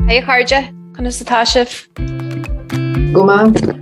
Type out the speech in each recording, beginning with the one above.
Hi a chairde, conas atá sibh? Go maith.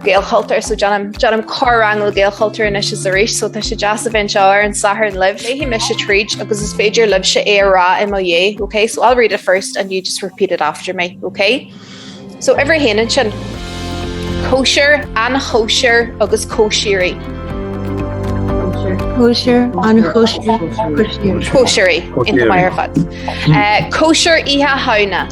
Gaelchultúr, so déanaim, déanaim corr-rang le Gaelchultúr anois is arís, so tá sé deas a bheith anseo ar an Satharn libh. Léifidh mise tríd agus is féidir libhse é a rá i mo dhiaidh, ok? So I'll read it first and you just repeat it after me, ok? So uimhir a haon ansin, cóisir, an chóisir agus cóisírí. Cóisir, an chóisir, cóisirí. Cóisirí, iontach maith ar fad. Cóisir Oíche Shamhna.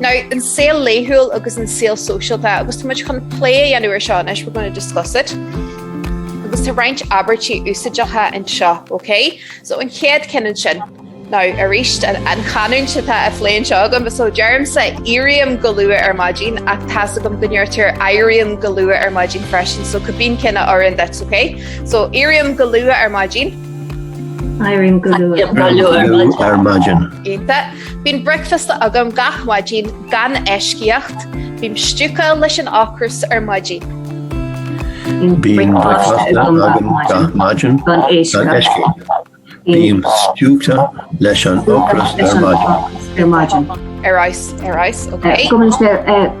Now, an saol laethúil agus an saol sóisialta, agus tá muid chun plé a dhéanamh ar seo anois, we're going to discuss it. Agus tá roinnt abairtí úsáideacha anseo, ok? So an chéad cheann ansin, now, arís, an chanúint atá á phlé anseo agam, so deirimse éirím go luath ar maidin, ach tá's agam go ndeirtear éirím go luath ar maidin freisin, so cibé ceann a oireann duit, ok? So éirím go luath ar maidin. Éirím go luath ar maidin. Déanta. Bíonn bricfeasta agam gach maidin gan eisceacht, bím stiúgtha leis an ocras ar maidin. Bíonn bricfeasta agam gach maidin gan eisceacht, bím stiúgtha leis an ocras ar maidin. Ar fheabhas, ar fheabhas, ok.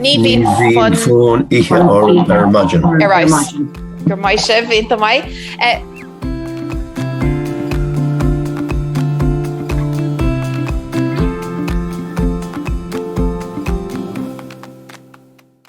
Ní bhíonn fonn ithe orm ar maidin. Ar fheabhas. Gur mbeidh sibh ionta mbeidh.